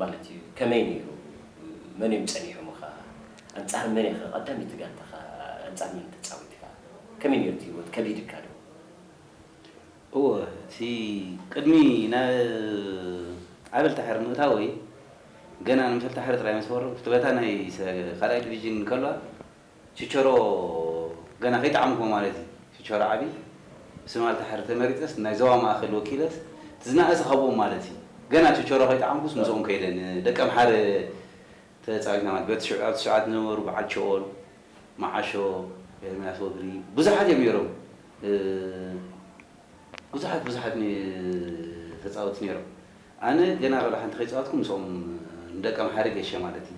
ማለት እዩ ከመይ ነይሩ መን እዮም ጸኒሖምኻ ኣንጻር መን ኢኻ ቀዳመይቲ ጋንታኻ ኣንጻር መን ተጻዊትካ ከመይ ነይሩ እቲ ሂወት ከቢድካ ዶ? እወ እቲ ቅድሚ ናብ ዓበልታሕሪ ምእታወይ ገና ንመሰልታሕሪ ጥራይ ምስ ፈረምኩ እቲ በታ ናይ ካልኣይ ድቪጅን ከሏ፣ ችቸሮ ገና ከይጠዓምኩዎ ማለት እዩ ችቸሮ ዓቢ ብስም ኣልታሕሪ ተመሪጸስ ናይ ዞባ ማእከል ወኪለስ እቲ ዝነኣሰ ካብኦም ማለት እዩ ገና ችቸሮ ከይጠዓምኩስ ምስኦም ከይደ ን ደቂ ኣምሓረ ተጻዊትና ማለት በቲ ሽዑ ኣብቲ ሰዓት ዝነበሩ በዓል ቸኦል መዓሾ ኤርምያስ ወግሪ ብዙሓት እዮም ኔሮም ብዙሓት ብዙሓት ተጻወቲ ኔሮም ኣነ ገና ወላ ሓንቲ ከይጻወትኩ ምስኦም ን ደቂ ኣምሓረ ጌሸ ማለት እዩ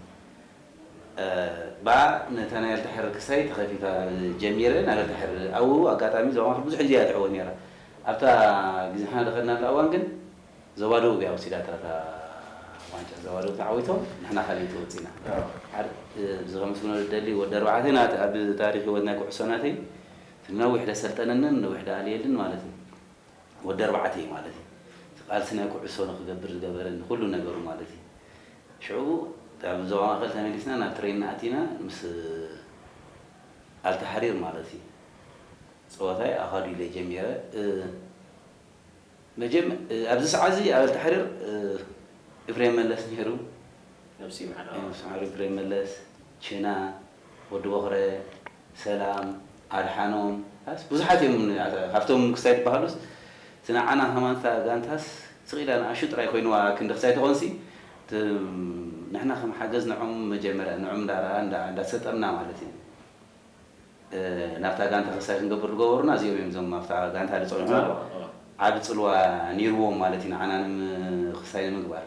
እባ ነታ ናይ ኣልታሕሪ ክሳይ ተኸፊታ ጀሚረ ናብ ኣልታሕሪ ኣውው ኣጋጣሚ ዞባ ማእከል ብዙሕ ግዜ እያ ትዕወት ኔራ ኣብታ ግዜ ንሕና ድኸድናላ እዋን ግን ዞባ ደቡብ እያ ወሲዳታ እታ ዋንጫ ዞባ ደቡብ ተዓዊቶም ንሕና ካልኣይቲ ወጺና ሓድ እዚ ከምስግኖ ዝደሊ ወዲ ኣርባዕተ ናቲ ኣብ ታሪኽ ሂወት ናይ ኩዕሶ ናተይ እቲ ነዊሕ ደሰልጠነንን ነዊሕ ደኣልየልን ማለት እዩ ወዲ ኣርባዕተ እዩ ማለት እዩ። እቲ ቃልሲ ናይ ኩዕሶ ንክገብር ዝገበረኒ ኩሉ ነገሩ ማለት እዩ። ሽዑ ካብ ዞባ ማእከል ተመሊስና ናብ ትሬን ኣቲና ምስ ኣልታሕሪር ማለት እዩ ጸወታይ ኣኻዱ ኢለ ጀሚረ። ኣብዚ ሰዓት እዚ ኣብ ኣልታሕሪር ኢፍሬም መለስ ነይሩ። ነብሲ ይምሓር ኢፍሬም መለስ፣ ችና፣ ወዲ ቦኽረ፣ ሰላም ኣድሓኖም ኣስ ብዙሓት እዮም ኣታ ካብቶም ክስታይ ድበሃሉስ እቲ ንዓና ከማን እታ ጋንታስ ስቅ ኢላ ንኣሹ ጥራይ ኮይንዋ ክንዲ ክስታይ ተኮንሲ እቲ ንሕና ከም ሓገዝ ንዖም መጀመርያ ንዖም እንዳራ እንዳ እንዳተሰጠምና ማለት እዩ ናብታ ጋንታ ክስታይ ክንገብር ድገበሩና እዚኦም እዮም እዞም ኣብታ ጋንታ ድጸንሑና ዓቢ ጽልዋ ኔርዎም ማለት እዩ ንዓና ንም ክስታይ ንምግባር።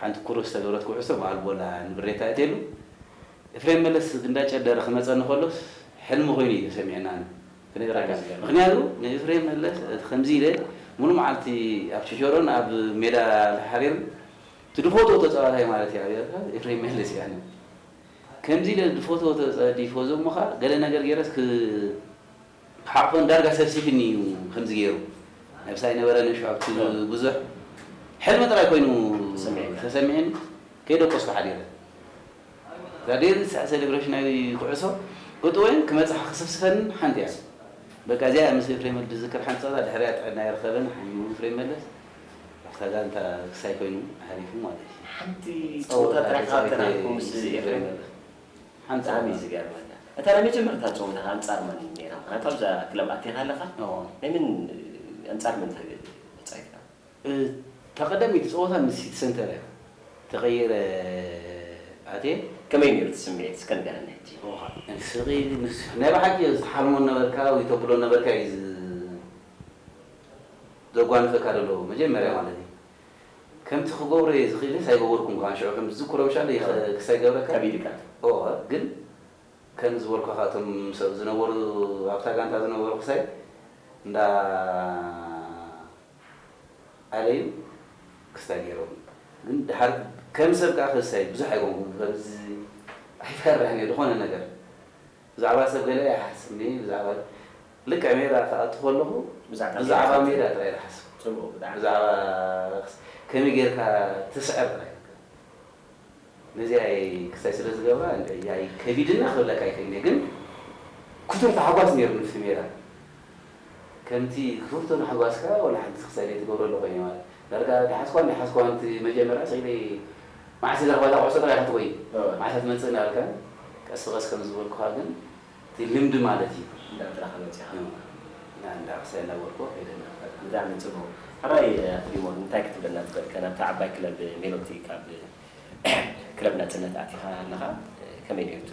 ሓንቲ ኩርብ ዝተገብረት ኩዕሶ ብኣልቦላ ንብሬ ተኣትየሉ። ኤፍሬም መለስ እንዳጨደረ ክመጸኒ ከሎስ ሕልሚ ኮይኑ እዩ ተሰሚዑናኒ ክነግራካ ምክንያቱ ንኤፍሬም መለስ እቲ ከምዚ ኢለ ሙሉእ መዓልቲ ኣብ ቸቸሮን ኣብ ሜዳ ተሓሪርን እቲ ድፎትዎ ተጻዋታይ ማለት እዩ ኣብ ኤርትራ ኤፍሬም መለስ እዩ ኣነ ከምዚ ኢለ ድፎትዎ ተጻዲፎ ዘሞካ ገለ ነገር ጌረስ ክ ሓቆን ዳርጋ ሰብሲብኒ ኢዩ ከምዚ ጌሩ ናይ ብሳይ ነበረ ነሹ ኣብቲ ብዙሕ ሕልሚ ጥራይ ኮይኑ ተሰሚዒኒ ከይደቆስኩ ሓዲረ እዛ ደንስሕ ሰለብረሽናዊ ኩዕሶ እጥወይን ክመጽሓ ክስፍስፈንን ሓንቲ ኢያ በቃ እዚኣ ኢያ ምስ ኤፍሬም ወልድ ዝዝክር ሓንቲ ጸወታ ድሕሪኣ ጥዕና ኣይረከበን ሓሚሙ ኤፍሬም መለስ ኣብታ ጋንታ ክሳይ ኮይኑ ሓሊፉ ማለት ኢዩ ሓንቲ ጸወታ ጥራሕ ተጻዊተ ምስ ኤፍሬም ኣንጻር መን እዩ ዝገርመካ እታ ናይ መጀመርታ ጸወታኻ ኣንጻር መን እዩ ኔራ ምኽንያቱ ኣብዛ ክለብ ኣቲኻ ኣለኻ ናይ መን ኣንጻር መን ተጻዊትካ። እታ ቀዳመይቲ ጸወታ ምስ ሲቲ ሰንተር እያ ተቐይረ ኣትየ። ከመይ ኔሩ እቲ ስምዒት እስከ ንገረኒ ሕጂ። ኦዋይ ስቕ ኢሊ ምስ ናይ ብሓቂ ትሓልሞ ዝነበርካ ወይ ተብሎ ዝነበርካ እዩ ዘጓንፈካ ዘሎ መጀመርያ ማለት እዩ። ከምቲ ክገብሮ እየ ዝኽኢለስ ኣይገበርኩን ከማን ሽዑ ከምቲ ዝዝክሮ ምሻለይ ይኽ ክስ ኣይገብረካን ከቢድ እካ እቲ። እወ ግን ከምዚ ዝበልኩ ከኣ እቶም ምስ ኣብ ዝነበሩ ኣብታ ጋንታ ዝነበሩ ክሳይ እንዳ ኣለዩ ክስታይ ገይሮም ግን ድሓር ከም ሰብ ከኣ ክስታይ ብዙሕ ኣይኮንኩን ከምዚ ኣይፈርሕን እየ ዝኾነ ነገር ብዛዕባ ሰብ ገለ ኣይሓስብ ሜይ ብዛዕባ ልክዕ ሜዳ ክኣቱ ከለኹ ብዛዕባ ሜዳ ጥራይ ዝሓስብ ብዛዕባ ከመይ ጌርካ ትስዕር ጥራይ ነዚኣይ ክስታይ ስለ ዝገብራ እንድዒ ያይ ከቢድና ክብለካ ኣይክእልን እየ ግን ክቱር ታሕጓስ ኔሩ ንፍቲ ሜዳ ከምቲ ክፍርቶ ምሕጓስካ ዋላ ሓንቲ ክሳድ ኣይትገብሮ ኣለኹ እየ ማለት ዳርጋ ደሓዝኩዋን ደሓዝኩዋን እቲ መጀመርያ ስዒበ መዓስ እዛ ጋታ ኩዕሶ ጥራይ ኢኻ ትጎይ መዓስ እያ ትመጽእ እንዳበልካን ቀስ ብቐስ ከም ዝበልኩኻ ግን እቲ ልምዲ ማለት እዩ እንዳጥረኻ መጺኻ እና እንዳ ክሳይ እንዳበልኩዎ ከይደ እና ብጣዕሚ ጽቡቕ ሕራይ ኣቶ ዲሞር እንታይ ክትብለና ትኽእል ናብታ ዓባይ ክለብ ሜሎዲ ካብ ክለብ ናጽነት ኣቲኻ ኣለኻ ከመይ ኔሩ እቲ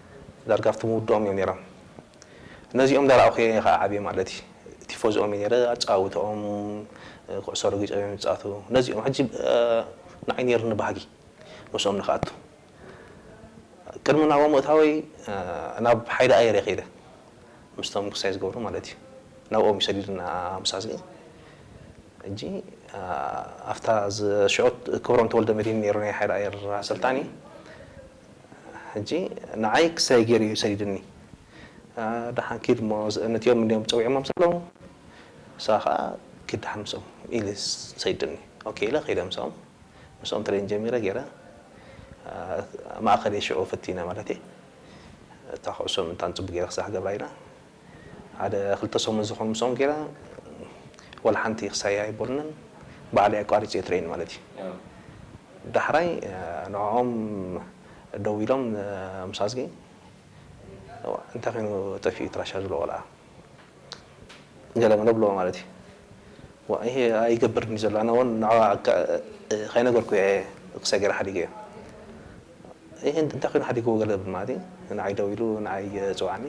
ዳርጋ ኣብቲ ምውድኦም እዮም ኔሮም ነዚኦም እንዳራኣኹ እየ ካኣ ዓብየ ማለት እዩ ቲፎዞኦም እየ ኔረ ኣጨዋውተኦም ኩዕሶ ረጊጾም እዮም ዝጻቱ ነዚኦም ሕጂ ናዓይ ኔሩኒ ባህጊ ምስኦም ንክኣቱ ቅድሚ ናብኦም ምእታወይ ናብ ሓይሊ ኣየር እየ ከይደ ምስቶም ክሳይ ዝገብሩ ማለት እዩ ናብኦም እዩ ሰዲድና ምስ ኣዝጊ ሕጂ ኣፍታ ሽዑ ክብሮም ተወልደመድሂን ኔሩ ናይ ሓይሊ ኣየር ኣሰልጣኒ ሕጂ ንዓይ ክሳይ ጌሩ እዩ ሰዲዱኒ። ደሓን ኪድ እሞ መጺኦም እንድዮም ጸዊዖሞም ዘለዉ ንስኻ ከኣ ኪድ ደሓን ምስኦም ኢሉ ሰዲዱኒ። ኦኬ ኢለ ከይደ ምስኦም። ምስኦም ትሬን ጀሚረ ጌረ ማእከል እየ ሽዑ ፈቲነ ማለት እየ። እታ ኩዕሶ ምእንታን ጽቡቕ ጌረ ክሳዕ ክገብራ ኢለ። ሓደ ክልተ ሰሙን ዝኮን ምስኦም ጌራ ዋላ ሓንቲ ክሳይ ኣይቦልናን ባዕለይ ኣቋሪጸ እየ ትሬን ማለት እዩ ዳሕራይ ንዖኦም ደዊሎም ምስ ኣዝጊ እንታይ ኮይኑ ጠፊኡ እቲ ራሻ ዝብሎ ቆልዓ ገለ መለ ብልዎ ማለት እዩ ይሄ ኣይገብርን እዩ ዘሎ ኣነ ውን ንዕኣ ከይነገርኩ እየ ክሳይ ጌራ ሓዲገዮ ይሄ እንታይ ኮይኑ ሓዲግዎ ገለ ማለት እዩ ንዓይ ደዊሉ ንዓይ ጽውዓኒ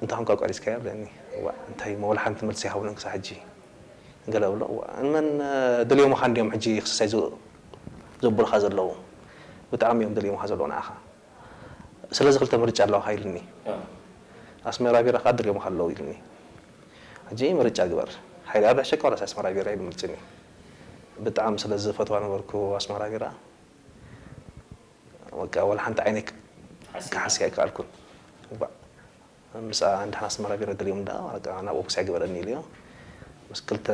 እንታይ ኮንካ ኣቋሪጽካያ በለኒ እዋእ እንታይ እሞ ወላ ሓንቲ መልሲ ኣይሃቡንን ክሳዕ ሕጂ ገለ እብሎ እዋእ ንመን ደልዮምኻ እንድዮም ሕጂ ክስሰይ ዘብሉኻ ዘለዉ ብጣዕሚ እዮም ደልዮምኻ ዘለዉ ንዓኻ ስለዚ ክልተ ምርጫ ኣለዋኻ ኢሉኒ ኣስመራ ቢራ ከኣ ደልዮምኻ ኣለዉ ኢሉኒ ሕጂ ምርጫ ግበር ሓይልኣብ ሕሸካ ዋላስ ኣስመራ ቢራ ኢሉ ምርጭኒ ብጣዕሚ ስለ ዝፈትዋ ነበርኩ ኣስመራ ቢራ በቃ ዋላ ሓንቲ ዓይነይ ክሓስያ ኣይከኣልኩን። እባ ምስኣ እንድሕር ኣስመራ ገይረ ደልዮም ደኣ በቃ ናብኡ ክስዕብ ግበረኒ ኢሉዮ። ምስ ክልተ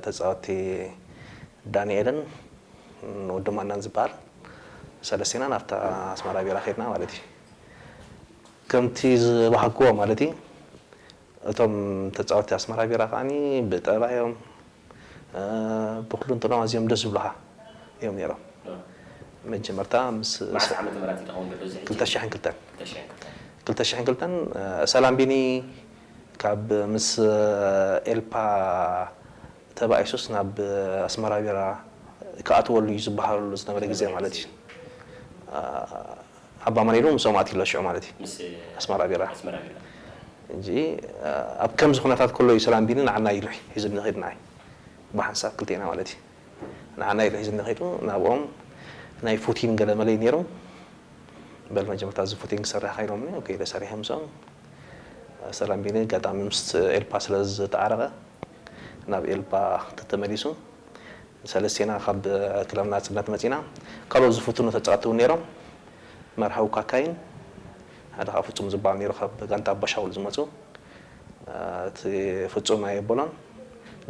ተጻወትቲ ዳኒኤልን ወዲ ማናን ዝበሃል ሰለስቲና ናብታ ኣስመራ ቢራ ከድና ማለት እዩ። ከምቲ ዝበሃግዎ ማለት እዩ እቶም ተጻወቲ ኣስመራ ቢራ ከኣ ብጠባዮም ብኩሉንትኖኦም ኣዝዮም ደስ ዝብሉኻ እዮም ኔሮም መጀመርታ ምስ መዓስ ዓመተ ምሕረት ኢዩ ተከውን ድሕሪ እዚ ሕጂ ክልተ ሽሕን ክልተን ክልተ ሽሕን ክልተን ክልተ ሽሕን ክልተን ሰላም ቢኒ ካብ ምስ ኤልፓ ተባኢሱስ ናብ ኣስመራ ቢራ ክኣትወሉ ኢዩ ዝባሃለሉ ዝነበረ ግዜ ማለት ኢዩ። ኣባ መሪሩ ምስኦም ኣትዩ'ሎ ሽዑ ማለት እዩ ምስ ኣስመራ ቢራ ኣስመራ ቢራ። ሕጂ ኣብ ከምዚ ኩነታት ከሎ እዩ ሰላም ቢኒ ንዓና ኢሉ ሒዙኒ ኬዱ ንዓይ ብሓንሳብ ክልቴና ማለት እዩ ንዓና ኢሉ ሒዙኒ ኬዱ ናብኦም ናይ ፉቲን ገለ መለ እዩ ኔሩ በል መጀመርታ እዚ ፉቲን ክሰርሕ እካ ኢሎምኒ ኦኬ ኢለ ሰሪሐ ምስኦም ሰላም ቢኒ ኣጋጣሚ ምስ ኤልፓ ስለ ዝተዓረቀ ናብ ኤልፓ ተተመሊሱ ሰለስቴና ካብ ክለብ ናጽነት መጺና ካልኦት ዝፍትኑ ተጻወቲ ውን ኔሮም መርሃዊ ካካይን ሓደ ከኣ ፍጹም ዝብሃል ኔሩ ካብ ጋንታ ኣባሻውል ዝመጹ እቲ ፍጹም ኣየበሎን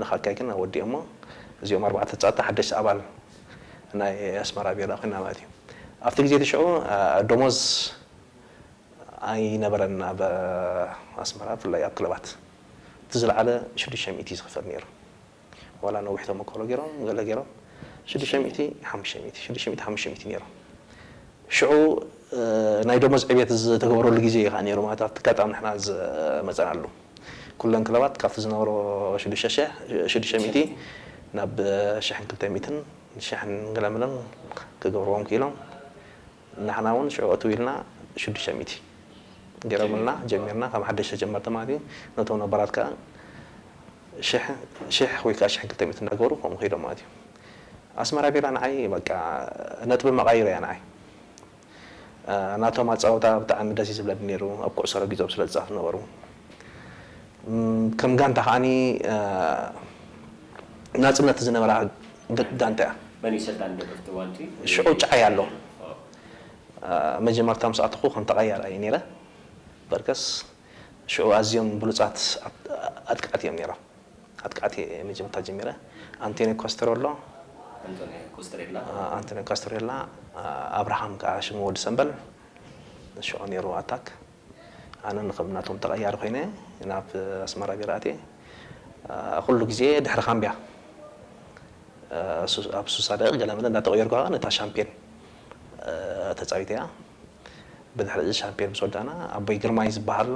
ንካካይ ግን ኣወዲኦሞ እዚኦም ኣርባዕተ ተጻወቲ ሓደሽቲ ኣባል ናይ ኣስመራ ቢራ ኮይና ማለት እዩ ኣብቲ ግዜ እቲ ሽዑ ዶሞዝ ኣይነበረን ኣብ ኣስመራ ብፍላይ ኣብ ክለባት። እቲ ዝለዓለ ሽዱሽተ ሚእቲ ዝኽፈል ነይሩ ዋላ ነዊሕ ተመኮሮ ገይሮም ገለ ገይሮም ሽዱሽተ ሚእቲ ሓሙሽተ ሚእቲ ሽዱሽተ ሚእቲ ሓሙሽተ ሚእቲ ነይሩ ሽዑ ናይ ደሞዝ ዕብየት ዝተገበረሉ ግዜ እዩ ከዓ ነይሩ ማለት ኣብቲ ኣጋጣሚ ንሕና ዝመፀናሉ ኩለን ክለባት ካብቲ ዝነበሮ ሽዱሽተ ሽሕ ሽዱሽተ ሚእቲ ናብ ሽሕን ክልተ ሚእትን ሽሕን ገለ ምለን ክገብርዎም ክኢሎም ንሕና ውን ሽዑ እትው ኢልና ሽዱሽተ ሚእቲ ገይሮምልና ጀሚርና ከም ሓደሽ ተጀመርና ማለት እዩ ነቶም ነባራት ከኣ ሽሕ ሽሕ ወይ ከኣ ሽሕ ክልተ ሚእቲ እንዳገበሩ ከምኡ ከይዶም ማለት እዩ ኣስመራ ቢራ ንዓይ በቃ ነጥቢ መቓይሮ እያ ንዓይ ናቶም ኣጻውታ ብጣዕሚ ደስ እዩ ዝብለኒ ነይሩ ኣብ ኩዕሶ ረጊጾም ስለ ዝጻወቱ ነበሩ ከም ጋንታ ከኣ ናጽነት ዝነበራ ብ ዳንተ እያ። መን እዩ ሰልጣን ደርፍቲ ዋንቲ? ሽዑ ጫዓይ ኣሎ። መጀመርታ ምስ ኣተኹ ከም ተቐያሪ እየ ነይረ። በርከስ ሽዑ ኣዝዮም ብሉጻት ኣጥቃዕቲ እዮም ነይሮም። ኣጥቃዕቲ እየ መጀመርታ ጀሚረ። ኣንቶንዮ ኮስተረሎ፣ ኣንቶንዮ ኮስተሬላ። ኣንቶንዮ ካስተሬላ፣ ኣብርሃም ከኣ ሽሙ ወዲ ሰምበል። ሽዑ ነይሩ ኣታክ። ኣነን ከም ናቶም ተቐያሪ ኮይነ ናብ ኣስመራ ገይረ ኣትየ። ኩሉ ግዜ ድሕሪ ካምብያ ኣብ ሱሳ ደቒቕ ገለመለ እንዳተቐየርኩ ከኣ ነታ ሻምፕዮን ተጻዊተያ። ብድሕሪ'ዚ ሻምፕዮን ምስ ወዳእና ኣቦይ ግርማይ ዝበሃል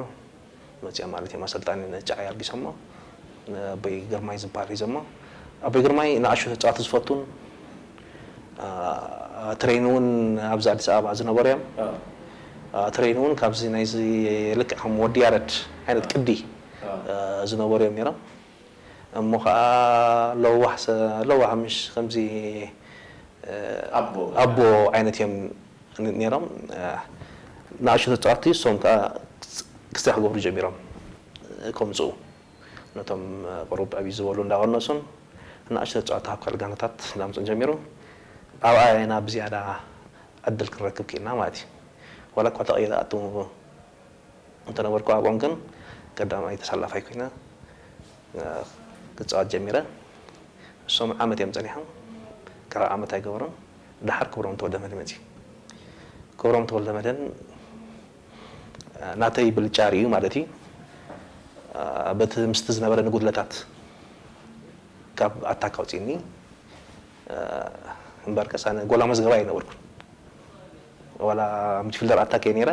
መጺኦም ማለት እዮም ኣሰልጣኒ ንጫዓይ ኣልጊሶሞ ንኣቦይ ግርማይ ዝበሃል ሒዞሞ ኣቦይ ግርማይ ንኣሹ ተጻወቲ ዝፈቱን፣ ትሬን ውን ኣብዚ ኣዲስ ኣበባ ዝነበሩ እዮም ትሬን ውን ካብዚ ናይዚ ልክዕ ከም ወዲ ያረድ ዓይነት ቅዲ ዝነበሩ እዮም ኔሮም እሞ ከኣ ለዋህ ሰ ለዋህ ምሽ ከምዚ ኣቦ ዓይነት እዮም ኔሮም ንኣሽቱ ተጻወትቲ እሶም ከኣ ክስታይ ክገብሩ ጀሚሮም ከምጽኡ ነቶም ቁሩብ ዕብይ ዝበሉ እንዳቐነሱን ንኣሽቱ ተጻወቲ ካብ ካልእ ጋንታታት እንዳምጽኡን ጀሚሩ። ኣብኣ ኢና ብዝያዳ ዕድል ክንረክብ ክኢልና ማለት እዩ። ዋላኳ ተቐይረ ኣቱ እንተነበርኩ ኣብኦም ግን ቀዳማይ ተሰላፋይ ኮይነ ክጻወት ጀሚረ። እሶም ዓመት እዮም ጸኒሖም ካልኣይ ዓመት ኣይገበሩን። ደሓር ክብሮም ተወልደመድህን መጺኡ። ክብሮም ተወልደመድህን። ናተይ ብልጫ ሪኡ ማለት እዩ በቲ ምስቲ ዝነበረኒ ጉድለታት ካብ ኣታክ ኣውጺእኒ እምበርከስ ኣነ ጎል ኣመዝገባይ ኣይነበርኩን ዋላ ሚድፊልደር ኣታክ እየ ነይረ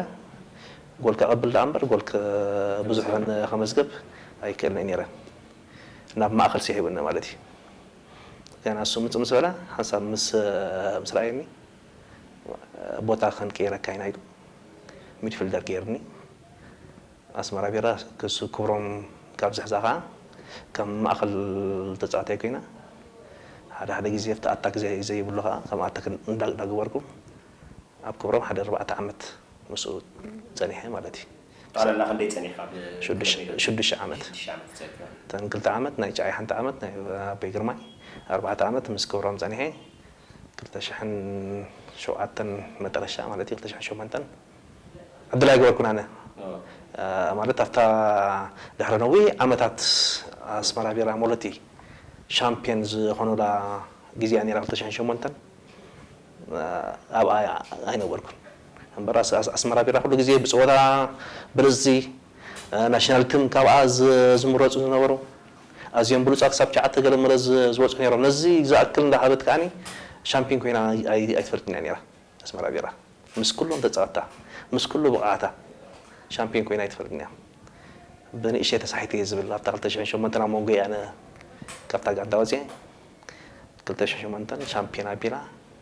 ጎል ከቐብል ደኣ እምበር ጎል ብዙሕ ከመዝገብ ኣይክእልን እየ ነይረ ናብ ማእኸል ስሒቡኒ ማለት እዩ ገና እሱ ምጽእ ምስ በለ ሓንሳብ ምስ ምስ ረኣየኒ ቦታ ክንቅይረካ ኢና ኢሉ ሚድፊልደር ገይሩኒ። ኣስመራ ቢራ ክሱ ክብሮም ካብ ዝሕዛ ከኣ ከም ማእከል ተጻዋታይ ኮይነ። ሓደ ሓደ ግዜ ኣብቲ ኣታክ ዘይብሉ ከኣ ከም ኣታክ እንዳገበርኩ ኣብ ክብሮም ሓደ ኣርባዕተ ዓመት ምስኡ ጸኒሐ ማለት እዩ። ጠቕላላ ክንደይ ጸኒሕካ ኣብ ክለብ ሜዳ? ሽዱሽተ ዓመት። ሽዱሽተ ዓመት ተጸኒሕካ። እተን ክልተ ዓመት ናይ ጨዓይ ሓንቲ ዓመት ናይ ኣቤ ግርማይ ኣርባዕተ ዓመት ምስ ክብሮም ጸኒሐ። ክልተ ሽሕን ሸውዓተን መጠረሻ ማለት እዩ ክልተ ሽሕን ሸሞንተን ዕድል ኣይገበርኩን ኣነ ማለት ኣብታ ድሕሪ ነዊሕ ዓመታት ኣስመራ ቢራ ሞለቲ ሻምፕዮን ዝኾኑላ ግዜ እያ ነይራ ክልተ ሽሕን ሸሞንተን ኣብኣ ኣይነበርኩን እምበር ኣስመራ ቢራ ኩሉ ግዜ ብጸወታ ብልጽቲ ናሽናል ትም ካብኣ ዝምረጹ ዝነበሩ ኣዝዮም ብሉጻት ክሳብ ትሽዓተ ገለ መለ ዝበጽሑ ኔሮም ነዚ ዝኣክል እንዳ ሃበት ከኣ ሻምፒን ኮይና ኣይትፈልጥን ኢያ ኔራ ኣስመራ ቢራ ምስ ኩሎም ተጻወትታ ምስ ኩሉ ብቕዓታ ሻምፒን ኮይና ኣይትፈልጥን ኢያ በንእሽተይ ተሳሒተ ኢየ ዝብል ኣብታ ክልተ ሽሕን ሸሞንተን ኣብ መንጎ ኢያ ኣነ ካብታ ጋንታ ወጺኤ ክልተ ሽሕን ሸሞንተን ሻምፒዮና ቢራ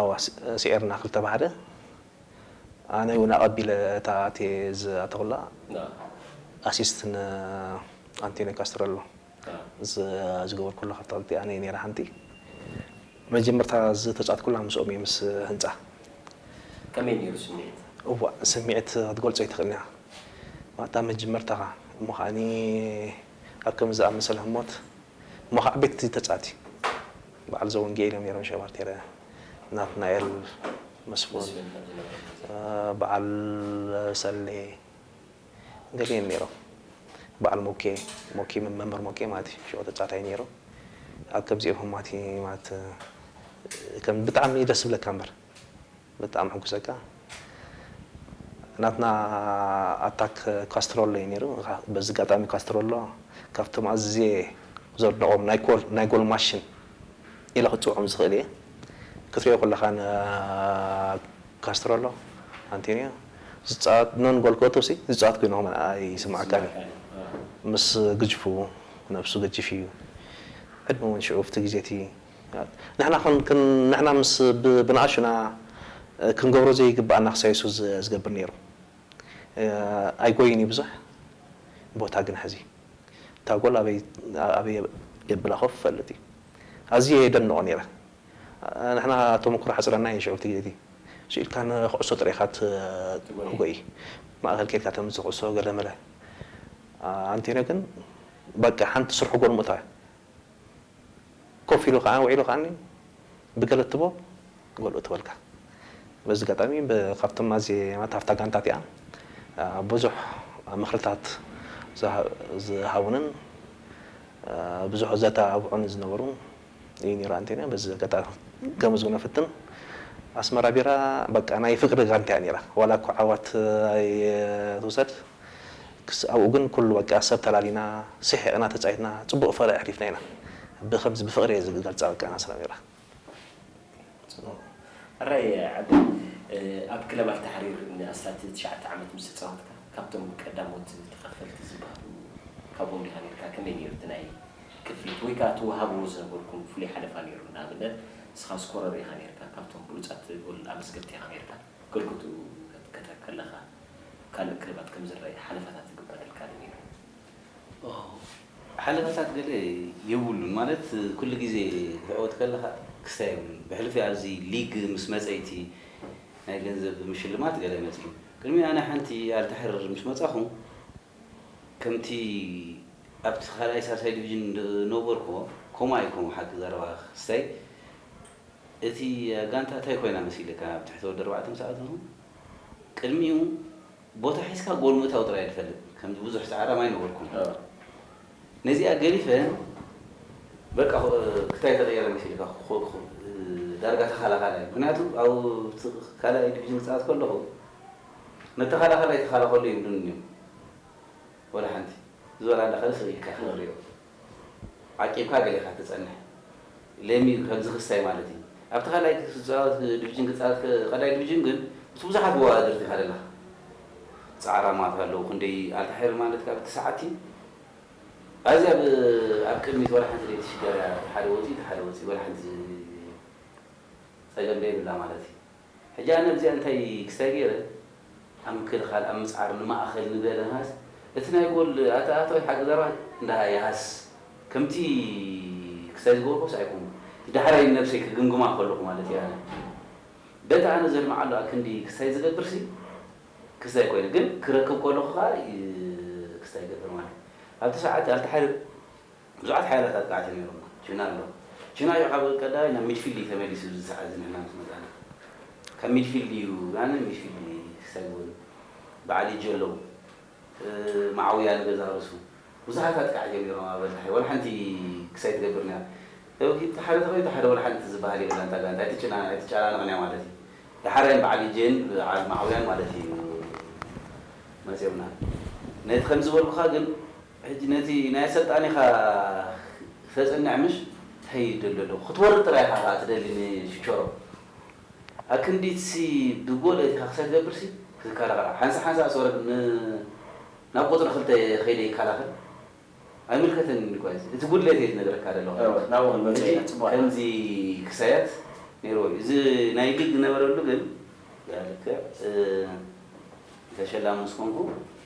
ኣዋ ስዒርና ክልተ ባሕሪ ኣነ ውን ኣቀቢለ እታ ኣቴ ዝኣተኹላ ኣሲስት ን ኣንቴንዮ ካስትረሎ ዝገበርኩላ ካብታ ክልቲኣ ኣነ እየ ነይረ ሓንቲ መጀመርታ ዝተጻትኩላ ምስኦም እየ ምስ ህንጻ ከመይ ነይሩ ስምዒት? እዋእ ስምዒት ክትገልጾ ኣይትኽእልን ኢኻ እታ መጀመርታኻ እሞ ከኣ ኣብ ከምዚ ዝኣመሰለ ህሞት እሞ ኸኣ ቤት እዚ ተጻቲ በዓል ዘወንጌል እዮም ነይሮም ሸባርቴረ ናትናኤል መስፉን በዓል ሰሌ ገለ እዮም ነይሮም በዓል ሞኬ ሞኬ መምህር ሞኬ ማለት እዩ ሽዑ ተጻታይ ነይሩ ኣብ ከምዚኦም ህማት ማለት ከም ብጣዕሚ ደስ ዝብለካ እምበር ብጣዕሚ ሕጉሰ እካ ናትና ኣታክ ካስትሮሎ እዩ ነይሩ በዚ ጋጣሚ ካስትሮሎ ካብቶም ኣዝየ ዘድንቆም ናይ ጎል ማሽን ኢለ ክፅውዖም ዝክእል እየ ክትሪኦ ከለካ ን ካስትሮሎ ኣንቴንዮ ዝፃወት ኖን ጎል ክእቱ ሲ ዝፃወት ኮይኑ ኣይስማዓካን እዩ ምስ ግጅፉ ነብሱ ገጅፍ እዩ ዕድመ እውን ሽዑ ኣብቲ ግዜ እቲ ንሕና ንሕና ምስ ብንኣሽና ክንገብሮ ዘይግብኣና ክሳብ የሱስ ዝገብር ነይሩ ኣይጎይን እዩ ብዙሕ ቦታ ግን ሕዚ እታ ጎል ኣበይ ኣበይ የብላ ኮፍ ይፈልጥ እዩ ኣዝየ የደንቆ ነይረ ንሕና ተመክሮ ሓጽረና እዩ ሽዑ እቲ ስኢልካ ንኩዕሶ ጥራይ ኢካ ትጎይ ማእከል ኬድካ ተምጽእ ኩዕሶ ገለመለ ኣንቴንዮ ግን በቃ ሓንቲ ስርሑ ጎል ምእታው እያ። ኮፍ ኢሉ ከኣ ውዒሉ ከኣኒ ብገለ እትቦ ጎል እትበልካ። በዚ ኣጋጣሚ ካብቶም ኣዝየማት ኣብታ ጋንታ እቲኣ ብዙሕ ምኽርታት ዝሃቡንን ብዙሕ ዘተባብዑኒ ዝነበሩ እዩ ነይሩ ኣንቴንዮ። በዚ ኣጋጣሚ ከመስግኖ እፍትን። ኣስመራ ቢራ በቃ ናይ ፍቅሪ ጋንታ እያ ነይራ ዋላ እኳ ዓወት ኣይትውሰድ። ክሳዕ ኣብኡ ግን ኩሉ በቃ ሰብ ተላሊና ሲሒቅና ተጻዊትና ጽቡቅ ፈረ ኣሕሊፍና ኢና ብከምዚ ብፍቅሪ እየ ዝገልጻ በቃ ኣና ሰላሚራ። ጽቡቕ ኣራይ ዓደይ ኣብ ክለብ ኣልታሕሪር ንኣስታት ትሽዓተ ዓመት ምስ ተጻወትካ ካብቶም ቀዳሞት ተኻፈልቲ ዝበሃሉ ካብኦም ዲኻ ኔርካ ከመይ ኔሩ እቲ ናይ ክፍሊት ወይ ከኣ ትወሃብዎ ዝነበርኩም ፍሉይ ሓለፋ ኔሩ ንኣብነት ንስኻ ስኮረር ኢኻ ኔርካ ካብቶም ብሉጻት ጎል ኣመዝገብቲ ኢኻ ኔርካ ክርጉቱ ክትከተብ ከለኻ ካልእ ክርባት ከም ዝረኣይ ሓለፋታት ዝግበረልካ ዶ ነይሩ? ኦህ ሓለፋታት ገለ የብሉን ማለት ኩሉ ግዜ ክትዕወት ከለኻ ክስታይ የብሉን ብሕልፊ ኣብዚ ሊግ ምስ መጸ'ቲ ናይ ገንዘብ ምሽልማት ገለ መጺኡ ቅድሚ ኣነ ሓንቲ ኣልታሕር ምስ መጻኹ ከምቲ ኣብቲ ካልኣይ ሳልሳይ ዲቪጅን ዝነበርኩዎ ከምኡ ኣይኮን ሓቂ ዘረባኻ ክስታይ እቲ ጋንታ ታይ ኮይና መሲልካ ኣብ ትሕቲ ወዲ ኣርባዕተ ምስ ኣተኹ ቅድሚኡ ቦታ ሒዝካ ጎል ምእታው ጥራይ እየ ዝፈልጥ ከምዚ ብዙሕ ጻዕራም ኣይነበርኩን ነዚኣ ገዲፈ በቃ ክታይ ተቀየረ መሲልካ ዳርጋ ተኻላኻላይ ምኽንያቱ ኣብቲ ካልኣይ ዲቪዥን ክጻወት ከለኹ ንተኻላኻላይ ተኻላኸሎ ይብሉኒ እዮም ወላ ሓንቲ እዚ ወላ እንዳ ካልእ ስቅ ኢልካ ኢኻ ትሪኦ ዓቂብካ ገለ ኢኻ እትጸንሕ። ሌሚ ከምዚ ክስታይ ማለት እዩ። ኣብቲ ካልኣይ ክትጻወት ድብጅን ክትጻወት ቀዳይ ድብጅን ግን ምስ ብዙሓት መወዳድርቲ ኢኻ ደለኻ። ጻዕራማት ኣለዉ ክንደይ ኣልታሒሪ ማለት ካብ እቲ ሰዓብቲ እዩ። ኣዚ ኣብ ኣብ ቅድሚት ወላ ሓንቲ ደይትሽገር እያ እቲ ሓደ ወጺኡ እቲ ሓደ ወጺኡ ወላ ሓንቲ ጸገም ደይብላ ማለት እዩ። ሕጂ ኣነ እዚኣ እንታይ ክስታይ ገይረ ኣብ ምክልኻል ኣብ ምጽዓር ንማእኸል ንበለ ንሃስ እቲ ናይ ጎል ኣተኣታዊ ሓገዛባ እንዳ ይሃስ ከምቲ ክስታይ ዝገበርኩስ ኣይኮንኩን እቲ ዳሕራይ ንነብሰይ ክግምግማ ከለኹ ማለት እየ ኣነ በቲ ኣነ ዘልምዓሉ ኣክንዲ ክስታይ ዝገብርሲ ክስታይ ኮይነ ግን ክረክብ ከለኹ ከኣ ክስታይ ይገብር ማለት ኣብቲ ሰዓት ኣልተሓርር ብዙሓት ሓያላት ኣጥቃዕቲ ነይሮም። ቺና ኣሎ። ቺና እዩ ካብ ቀዳማይ ናብ ሚድፊልድ እዩ ተመሊሱ እዚ ሰዓት እዚ ንሕና ምስ መጻና። ካብ ሚድፊልድ እዩ ን ሚድፊልድ ሰግውን በዓል ኢጆ ኣለዉ። መዓውያ ንገዛ ርእሱ። ብዙሓት ኣጥቃዕቲ እዮም ነይሮም ኣብ ኣድሓ። ዋላ ሓንቲ ክስ ኣይትገብርንያ። እቲ ሓደ ተቐይሩ እቲ ሓደ ዋላ ሓንቲ ዝበሃል የብላን እታ ጋንታ። ኣይትጨናነቕንያ ማለት እዩ። ደሓራዮም በዓል ኢጄን በዓል መዓውያን ማለት እዩ መጺኦምና። ነቲ ከምዚ ዝበልኩኻ ግን ሕጂ ነቲ ናይ ኣሰልጣኒኻ ክተጽንዕ ምሽ ታይ ይደሎ ኣለኹ ክትወርድ ጥራይ ኢኻ ከኣ ትደሊ ን ቺቸሮ ኣክንዲት ሲ ብ ጎል ኣቲኻ ክሳይ ትገብር ሲ ክትከላኸል ሓንሳ ሓንሳ ስ ወረድ ን ናብ ቁጽሪ ክልተ ከይደ ይከላኸል ኣይምልከተንን ዩ ኳዚ እቲ ጉድለት እየ ዝነግረካ ደለኹ እወ ናብኡ ክንመጽእ ኢና ጽቡቅ ኣላ ከምዚ ክሳያት ነይርዎ ዩ እዚ ናይ ሊግ ዝነበረሉ ግን ብኣልክዕ ተሸላሚ ምስ ኮንኩ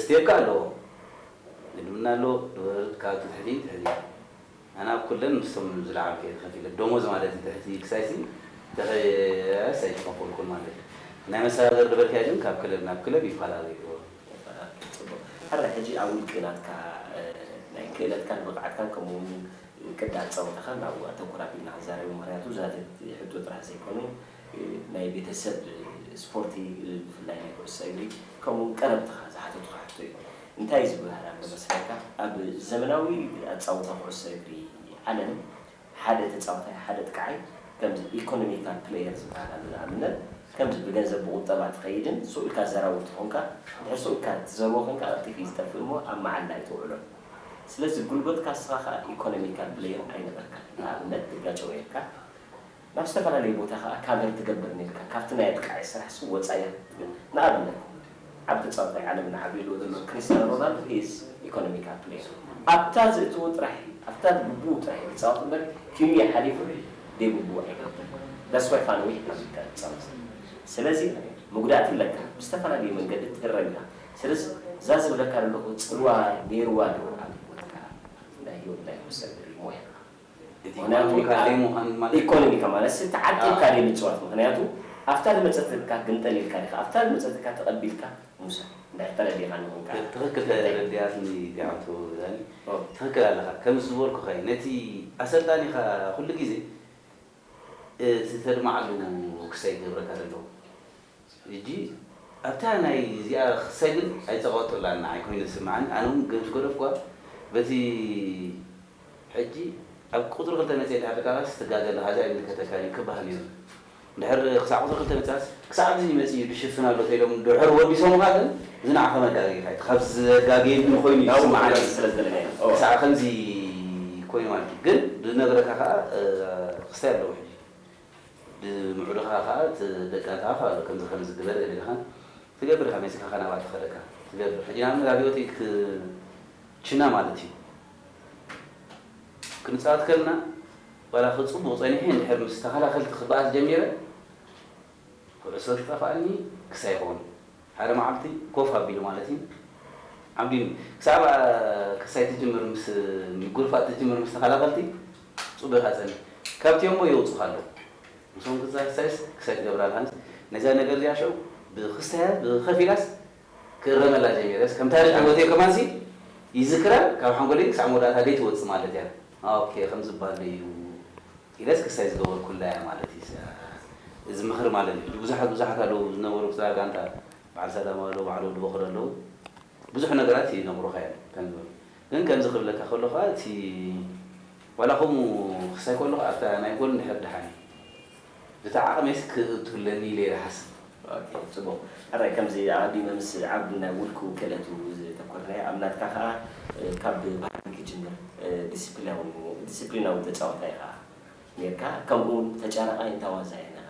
ስቴፕከ ኣለዎ ግድምና ኣሎ ድወርድ ካብ ትትሕቲ ትሕቲ ኣነ ኣብ ኩለን ምስቶም ዝለዓሉ ከይደ ከፊለ ዶሞዝ ማለት እዩ ትሕቲ ክሳይሲ ተኸያያስ ኣይተኸፈልኩን ማለት እዩ ናይ መሰጋገሪ ድበትያ ግን ካብ ክለብ ናብ ክለብ ይፈላለ እዩ ጽቡቅ ሕራይ ሕጂ ኣብ ውልቂ ናትካ ናይ ክእለትካን ብቅዓትካን ከምኡ ውን ቅዲ ኣጻውታካን ኣብኡ ኣተኩር ኣቢልና ክንዛረብ ኢና ምክንያቱ ዛጊት ሕቶ ጥራሕ ዘይኮነ ናይ ቤተሰብ ስፖርቲ ብፍላይ ናይ ኩዕሶ እግሪ ከምኡ ውን ቀረብትኻ ዝሓተቱኻ ሕቶ እዩ። እንታይ ዝብሃል ኣሎ መስለካ ኣብ ዘመናዊ ኣጻውታ ኩዕሶ እግሪ ዓለም ሓደ ተጻዋታይ ሓደ ኣጥቃዓይ ከምዚ ኢኮኖሚካል ፕለየር ዝብሃል ኣሎ ንኣብነት ከምዚ ብገንዘብ ብቁጠባ ትኸይድን ሱቅ ኢልካ ዘራዊ ተኾንካ ድሕር ሱቅ ኢልካ ትዘርዎ ኮንካ ቀልጢፍ እዩ ዝጠፍእ እሞ ኣብ መዓላ ኣይተውዕሎን ስለዚ ጉልበትካ እስኻ ከኣ ኢኮኖሚካል ፕለየር ኣይነበርካን ንኣብነት ትጋጨው ኔርካ ናብ ዝተፈላለየ ቦታ ከኣ ካቨር ትገብር ኔርካ ካብቲ ናይ ኣጥቃዒ ስራሕ ሱብ ወጻኢ ክትብል ንኣብነት ዓብቲ ጸቕጢ ዓለም ንዓብልዎ ዘሎ ክሪስታኖ ሮናልዶ ሂ ኢዝ ኢኮኖሚካል ፕሌየር ኣብታ ዝእትዎ ጥራሕ ኣብታ ግቡኡ ጥራሕ እዩ ክጻወት እምበር ኪንዮ ሓሊፉ ደይግቡኡ ኣይገብርን ዳስ ዋይ ፋኖ ዊሕ ኣቢልካ ትጻወት ዘለኻ ስለዚ መጉዳእቲ ኣለካ ብዝተፈላለየ መንገዲ ትህረም ኢኻ ስለዚ እዛ ዝብለካ ዘለኹ ጽልዋ ኔርዋ ዶ ኣብ ሂወትካ ናይ ሂወት ናይ ኩሰግሪ ሞያኻ። እቲ ናይ ኣመሪካ ዓሌት ምዃን ማለት እዩ። ኢኮኖሚካ ማለት ሲ ተዓቂብካ ድዩ ምጽዋት ምክንያቱ ኣብታ ድመጸትካ ግምጠል ኢልካ ዲካ ኣብታ ድመጸትካ ተቀቢልካ ምውሳድ እንታይ ተረዲካኒ ኹን ካኣ ትክክል ተረዲኣትኒ ዲዓቶ ዳኒ ትክክል ኣለካ ከምዝበልኩካ እዩ ነቲ ኣሰልጣኒካ ኩሉ ግዜ እቲ ተድማዕዱ ክሳይ ገብረካ ደሎ እጂ ኣብታ ናይ እዚኣ ክሳይ ግን ኣይጸቀጡላን ንዓይ ኮይኑ ዝስምዓኒ ኣነ ውን ገምስ ገደፍኩዋ በቲ ሕጂ ኣብ ቁጽሪ ክልተ መጽየ ድሕሪ ካባስ ትጋገ ኣለካ እዚ ኣይምልከተካን እዩ ክባሃል ኔሩ ድሕር ክሳዕ ቁጽሪ ክልተ ምጻስ ክሳዕ እዙይ መፂኡ እዩ ክሽፍን ኣሎ ተይሎም ድሕር ወዲሶምኻ ግን ዝናዓኸ መጋገይኻ እዩ እቲ ካብ ዘጋገየኒ ኮይኑ እዩ ዝስምዓኒ ክሳዕ ከምዚ ኮይኑ ማለት እዩ ግን ብነገረካ ካዓ ክስታይ ኣለዎ ሕጂ ብምዑድኻ ካዓ እቲ ደቃን ካዓ ካሎ ከምዚ ከምዚ ግበር ገለልኻን ትገብር ኢኻ መፂእካ ካዓ ናብኣ ተኸደካ ትገብር ሕጂ ንኣብነት ኣብ ሂወት ክችና ማለት እዩ ክንፃወት ከለና ዋላ ክፅቡቕ ፀኒሐ እንድሕር ምስ ተኸላኸልቲ ክባኣስ ጀሚረ ኩዕሶ ትጠፍኣኒ ክሳይ ይኸውን ሓደ መዓልቲ ኮፍ ኣቢሉ ማለት እዩ ዓምዲኑ ክሳብ ክሳይ ትጅምር ምስ ምጉርፋጥ ትጅምር ምስ ተኸላኸልቲ ጽቡቕ ኢኻ ጸንሕ ካብቲ ኣምቦ የውጹኻ ኣለዉ ምስኦም ክትዛሳይስ ክሳይ ትገብር ኣለኻ ነዛ ነገር እዚኣ ሽዑ ብክስታያ ብኸፊላስ ክእረመላ ጀሚረስ ከም ታሪኽ ሂወተይ ከማንሲ ይዝክራን ካብ ሓንጎለይ ክሳዕ መወዳእታ ደይትወጽእ ማለት እያ ኦኬ ከም ዝበሃልዶ እዩ ኢለስ ክሳይ ዝገበርኩላ እያ ማለት እዩስ እዚ ምኽሪ ማለት እዩ ሕጂ ብዙሓት ብዙሓት ኣለዉ ዝነበሩ ክሳብ ጋንታ በዓል ሰላማዊ ኣለዉ በዓል ወዲ ቦኽሪ ኣለዉ ብዙሕ ነገራት ይነግሩኻ እዮም ከም ዝበሉ ግን ከምዚ ክብለካ ከሎ ከኣ እቲ ዋላ ከምኡ ክሳይ ከለኹ ኣብታ ናይ ጎል እንድሕር ደሓን እዩ ብቲ ዓቕመይስ ክእቱለኒ ኢለ እየ ዝሓስብ ኦኬ ጽቡቅ ሕራይ ከምዚ ኣቀዲመ ምስ ዓቢ ናይ ውልቁ ክእለቱ ዘተኮርናዮ ኣብ ናትካ ከኣ ካብ ባህሪ ክጅምር ዲሲፕሊያዊ ዲሲፕሊናዊ ተጻዋታይ ኢኻ ኔርካ ከምኡ ውን ተጫራቃይን ታዋዛይን ኢኻ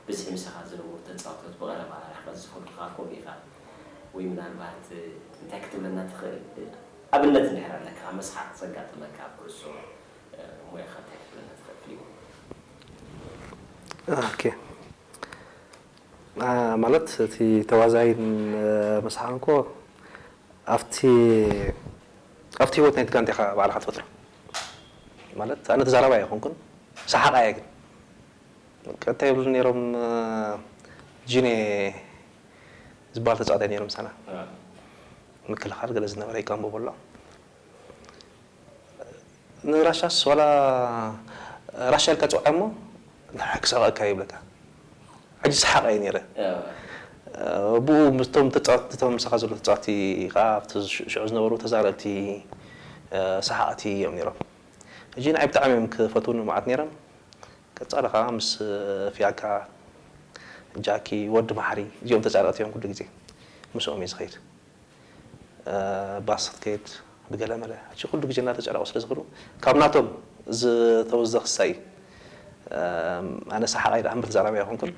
ብዝሒ ምሳኻ ዝነበሩ ተጻወቶት ብቀረባ ርሕቀት ዝፈልጡኻ ኮን ኢኻ ወይ ምናልባት እንታይ ክትብለና ትኽእል ኣብነት እንድሕር ኣለካ መስሓቅ ዘጋጠመካ ኣብ ኩዕሶ ሞያኻ እንታይ ክትብለና ትኽእል ፍሊሙ። ኦኬ ማለት እቲ ተዋዛይ ምስ ሓንኮ ኣብቲ ኣብቲ ሂወት ናይቲ ጋንታ ኢኻ ባዕልኻ ትፈጥሮ ማለት ኣነ ተዛራባይ ኣይኮንኩን ሰሓቓይ እየ ግን በቃ እንታይ ይብሉ ነይሮም ጂኔ ዝበሃል ተጻዋታይ ነይሩ ምሳና ምክልኻል ገለ ዝነበረ ይቀንብቡ ኣሎ ንራሻስ ዋላ ራሻ ኢልካ ጽውዓ እሞ ንዓይ ክሰቐካ እዩ ይብለካ ሕጂ ሰሓቕ እየ ኔረ ብኡ ምስቶም ተጻወትቲ እቶም ምሳኻ ዘለዉ ተጻወትቲ ከኣ ኣብቲ ሽዑ ዝነበሩ ተዛረብቲ ሰሓቕቲ እዮም ኔሮም ሕጂ ንዓይ ብጣዕሚ እዮም ክፈትዉኒ መዓት ኔሮም ቀጻሊ ከኣ ምስ ፊያካ ጃኪ ወዲ መሓሪ እዚኦም ተጻረቕቲ እዮም ኩሉ ግዜ ምስኦም እየ ዝኸይድ ባስ ክትከይድ ብገለ መለ ሕጂ ኩሉ ግዜ እናተጨነቑ ስለ ዝኽዱ ካብ ናቶም ዝተወስደ ክሳ እዩ ኣነ ሰሓቓይ ደኣ እምበር ተዛራባይ ኣይኮንኩን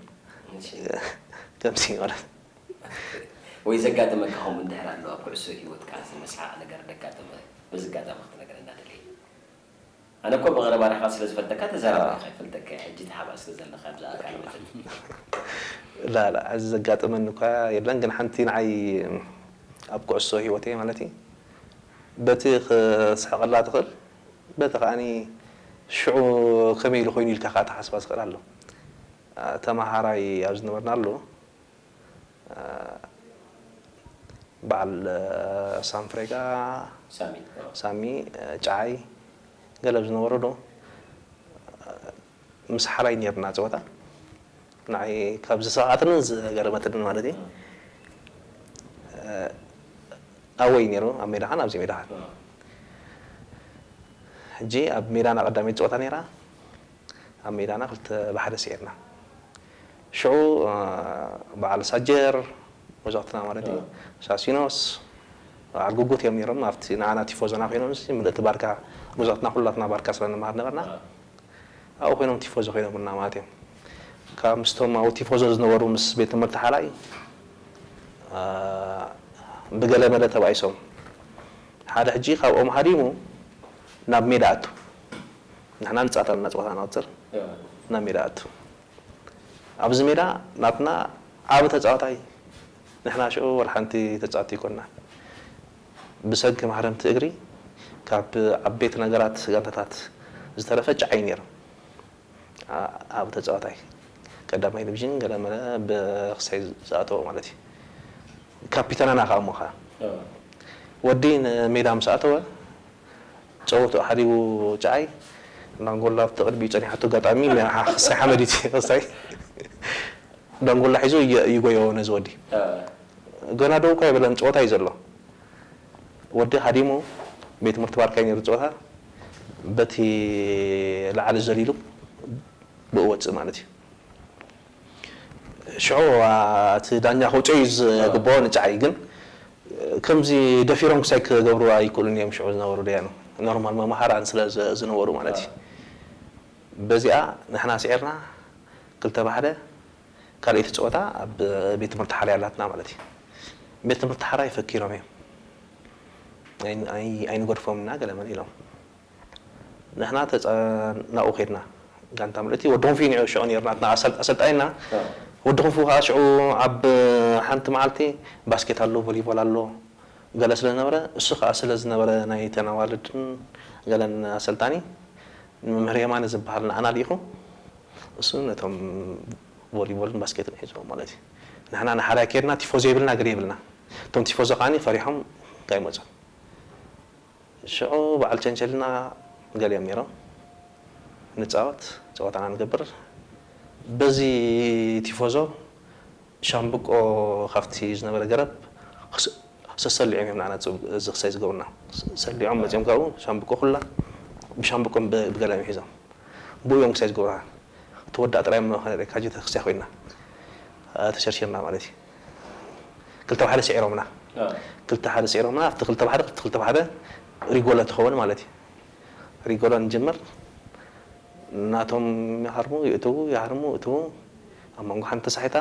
ከምዚ እዩ ማለት ወይ ዘጋጠመካ ከምኡ እንድሕር ኣሎ ኣብ ኩዕሶ ሂወትካ ዘመስሓቕ ነገር ደጋጠመ በዚ ኣጋጣሚ ክትነግረና ደልየ። ኣነ እኮ ብቀረባ ርሕቀት ስለ ዝፈልጠካ ተዛራባይ ኢካ ይፈልጠካየ ሕጂ ተሓባእ ስለ ዘለካ ኣብዚ ኣካል መጠን። ላላ እዚ ዘጋጠመኒ እኳ የለን ግን ሓንቲ ንዓይ ኣብ ኩዕሶ ሂወተይ ማለት እዩ በቲ ክስሕቀላ ትክእል በቲ ከኣ ሽዑ ከመይ ኢሉ ኮይኑ ኢልካ ከኣ ትሓስባ ትክእል ኣሎ ተማሃራይ ኣብ ዝነበርናሉ በዓል ሳም ፍሬጋ፣ ሳሚ፣ ጨዓይ ገለ ኣብ ዝነበረሉ ምስ ሓራይ ኔርና ጸወታ ንዓይ ካብ ዘሰቀዓትንን ዝገረመትንን ማለት እዩ ኣወይ ኔሩ ኣብ ሜዳኻን ኣብዚ ሜዳኻን ሕጂ ኣብ ሜዳና ቀዳመይቲ ጸወታ ኔራ ኣብ ሜዳና ክልተ ብሓደ ስዒርና ሽዑ በዓል ሳጀር መዘቕትና ማለት እዩ ሳሲኖስ በዓል ጉጉት እዮም ነይሮም ኣብቲ ንዓና ቲፎዞና ኮይኖም እዚ ምልእቲ ባርካ መዘቕትና ኩላትና ባርካ ስለ ንመሃር ነበርና ኣብኡ ኮይኖም ቲፎዞ ኮይኖምልና ማለት እዮም ካብ ምስቶም ኣብኡ ቲፎዞ ዝነበሩ ምስ ቤት ትምህርቲ ሓላይ ብገለ መለ ተባኢሶም ሓደ ሕጂ ካብኦም ሃዲሙ ናብ ሜዳ ኣቱ ንሕና ንጻወት ኣለና ጸወታ ንቕጽር ናብ ሜዳ ኣቱ ኣብዚ ሜዳ ናትና ዓቢ ተጻዋታይ ንሕና ሽዑ ወላ ሓንቲ ተጻወቲ ኣይኮናን ብሰንኪ ማህረምቲ እግሪ ካብ ዓበይቲ ነገራት ጋንታታት ዝተረፈ ጭዓ እዩ ኔሩ ዓቢ ተጻዋታይ ቀዳማይ ድብዥን ገለመለ ብክሳይ ዝኣተዎ ማለት እዩ ካፒተናና ከኣ እሞ ከኣ ወዲ ንሜዳ ምስ ኣተወ ጸወትኡ ሓዲጉ ጭዓይ ዳንጎላ ኣብቲ ቅድሚኡ ጸኒሓቶ ኣጋጣሚ መሪሓ ክሳይ ሓመድ እዩ ክሳይ ዳንጎላ ሒዙ ይጎዮ ነዚ ወዲ ገና ደው እኳ ኣይበለን ጸወታ እዩ ዘሎ ወዲ ሃዲሙ ቤት ትምህርቲ ባርካ እዩ ነይሩ ጸወታ በቲ ላዕሊ ዘሊሉ ብኡ ወጽእ ማለት እዩ። ሽዑ እቲ ዳኛ ከውጽኦ እዩ ዝግብኦ ንጨዓይ ግን ከምዚ ደፊሮም ክሳይ ክገብርዋ ኣይክእሉን እዮም ሽዑ ዝነበሩ ደያኑ ኖርማል መማህራን ስለ ዝነበሩ ማለት እዩ በዚኣ ንሕና ስዒርና ክልተ ብሓደ ካልኣይቲ ጸወታ ኣብ ቤት ትምህርቲ ሓራ ኣላትና ማለት እዩ ቤት ትምህርቲ ሓራ ይፈኪሮም እዮም ኣይንገድፎም እና ገለ መለ ኢሎም ንሕና ናብኡ ከድና ጋንታ ምልእቲ ወዲ ክንፊ ንዑ ሽዑ ነርና እታ ኣሰልጣይና ወዲ ክንፉ ከኣ ሽዑ ኣብ ሓንቲ መዓልቲ ባስኬት ኣሎ ቮሊቮል ኣሎ ገለ ስለ ዝነበረ እሱ ከኣ ስለ ዝነበረ ናይ እተን ኣዋልድን ገለን ኣሰልጣኒ ንመምህር የማነ ዝበሃል ንዓና ሊኢኹ እሱ ነቶም ቮሊቮልን ባስኬትን ሒዝዎም ማለት እዩ ንሕና ንሓራይ ከድና ቲፎዞ የብልና ገለ የብልና እቶም ቲፎዞ ከኣ ፈሪሖም ካይመጹን ሽዑ በዓል ቸንቸል እና ገሊኦም ነይሮም ንፃወት ፀወታና ንገብር በዚ ቲፎዞ ሻምብቆ ካብቲ ዝነበረ ገረብ ሰሰሊዖም እዮም ንኣና ዝክሰይ ዝገብሩና ሰሊዖም መፂኦም ካብኡ ሻምብቆ ኩላ ብሻምብቆ ብገላ እዮም ሒዞም ብኡ እዮም ክሳይ ዝገብሩና ትወዳእ ጥራይ እሞ ክንሪኤካ ጅተ ክሳይ ኮይና ተሸርሺርና ማለት እዩ። ክልተ ብሓደ ስዒሮምና ክልተ ብሓደ ስዒሮምና ኣብቲ ክልተ ብሓደ ክልተ ክልተ ብሓደ ሪጎሎ ትኸውን ማለት እዩ ሪጎሎ ንጅምር ናቶም ይሃርሙ ይእትዉ ይሃርሙ ይእትዉ ኣብ መንጎ ሓንቲ ተሳሒታ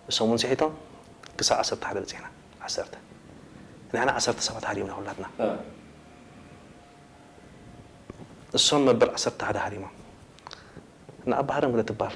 እሶም እውን ስሒቶም ክሳብ ዓሰርተ ሓደ በፂሕና ዓሰርተ ንሕና ዓሰርተ ሰባት ሃሪምና ኩላትና እሶም መበል ዓሰርተ ሓደ ሃሪሞም ንኣባህርም ግደ ትበሃል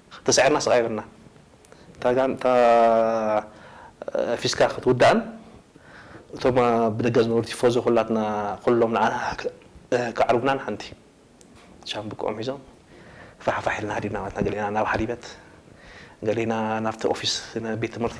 ተሳዒርና ስቃይ በልና እታ ጋንታ ፊስካ ክትውዳእን እቶም ኣብ ደገ ዝነበሩ ቲፎዞ ኩላትና ኩሎም ንዓና ክዓርቡናን ሓንቲ ሻምብቆኦም ሒዞም ፋሕፋሕ ኢልና ሃዲምና ማለት ኢና ገሊኣና ናብ ሓሊበት ገሊና ናብቲ ኦፊስ ቤት ትምህርቲ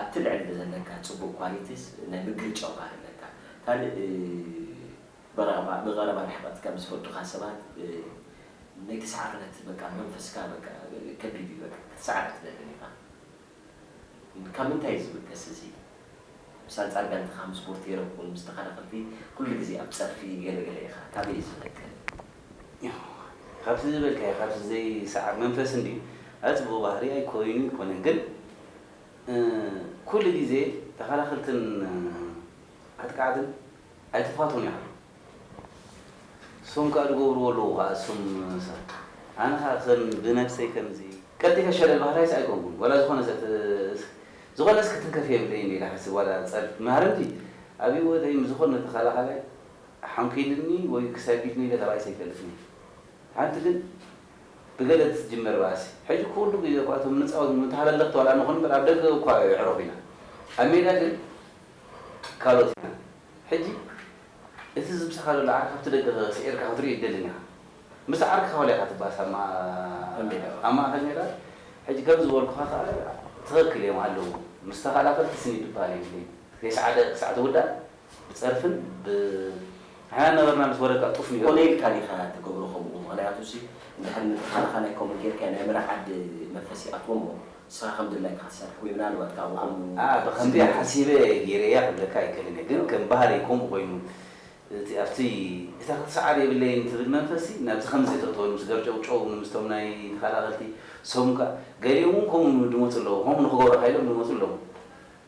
ኣብቲ ልዕል ብዘለካ ጽቡቅ ኳሊቲስ ናይ ምግሪ ጨጓር ኣለካ ካልእ ብቀረባ ብቀረባ ርሕቀት ካብ ዝፈልጡካ ሰባት ናይ ተሳዓርነት በቃ መንፈስካ በቃ ከቢድ እዩ በቃ ክትሳዓር ኣይትደልን ኢካ ግን ካብ ምንታይ እዩ ዝብገስ እዚ ምስ ኣንጻር ጋንታካ ምስ ቦርቴሮኩን ምስ ተከላከልቲ ኩሉ ግዜ ኣብ ጸርፊ ገለ ገለ ኢካ ካበይ እዩ ዝነቅል። ካብዚ ዝበልካዮ ካብዚ ዘይሰዓር መንፈስ እንድዩ ኣዚ ጽቡቅ ባህሪ ኣይኮይኑ ኣይኮነን ግን ኩሉ ግዜ ተኸላኸልትን ኣጥቃዕትን ኣይተፋትውን ኢኻ እሶም ከኣ ድገብርዎ ኣለዉ ከኣ እሶም ሰብ ኣነ ከኣ ከም ብነብሰይ ከምዚ ቀልጢፈ ሸለል በሃላይስ ኣይኮንኩን ዋላ ዝኾነ ሰብ ዝኾነስ ክትንከፍ የብለይን ኢለ ይሓስብ ዋላ ጸርፊ ማሃረምቲ ኣብ ሂወተይ ምስ ዝኾነ ተኸላኻላይ ሓንኪሉኒ ወይ ክሰጊድኒ ኢለ ተባኢሰ ኣይፈልጥን እየ። ሓንቲ ግን ብገለ እትጅመር ባእሲ ሕጂ ኩሉ ግዜ እኳ እቶም ንጻወት ንብሎም ተሃለለኽቲ ዋላ ንኹን እምበር ኣብ ደገ እኳ የዕረፉ ኢና ኣብ ሜዳ ግን ካልኦት ኢና። ሕጂ እቲ ዝምጻኻ ዘሎ ዓርኪ ካብቲ ደገ ስዒርካ ክትርእዮ ኣይትደልን ኢኻ። ምስቲ ዓርክኻ ዋላ ኢኻ ትባእስ ኣብ ኣብ ማእከል ሜዳ ሕጂ ከም ዝበልኩኻ ከኣ ትኽክል እዮም ኣለዉ ምስ ተኸላኸልቲ ስኒ ድባል የብለይን ከይሰዓደ ክሳዕ ትውዳእ ብጸርፍን ብ ንሕና ነበርና ምስ ወረድካ ጡፍ ንዮ። ኮነ ኢልካ ዲካ ትገብሮ ከሙኡ ምክንያቱ ሲ እንድሕር ንትካልካ ናይ ኮሙኡ ገርካዮ ናይ መራ ዓዲ መንፈስ ይኣትዎ እሞ ንስካ ከም ድላይካ ክትሰርሕ ወይ ምናልባት ካኣ ብከሙኡ ኣኣ ብከምዚ ሓሲበ ገይረያ ክብለካ ኣይክእልን እየ ግን ከም ባህሪ ኮሙኡ ኮይኑ እቲ ኣብቲ እታ ክትስዓር የብለይን ትብል መንፈስ ሲ ናብዚ ከምዚ ተእትወሉ ምስ ገርጨውጨው ንምስቶም ናይ ተካላከልቲ ሰሙን ካኣ ገሊኦም ውን ኮሙኡ ድመጹ ኣለዉ ኮሙኡ ንክገብሩ ሓይሎም ድመጹ ኣለዉ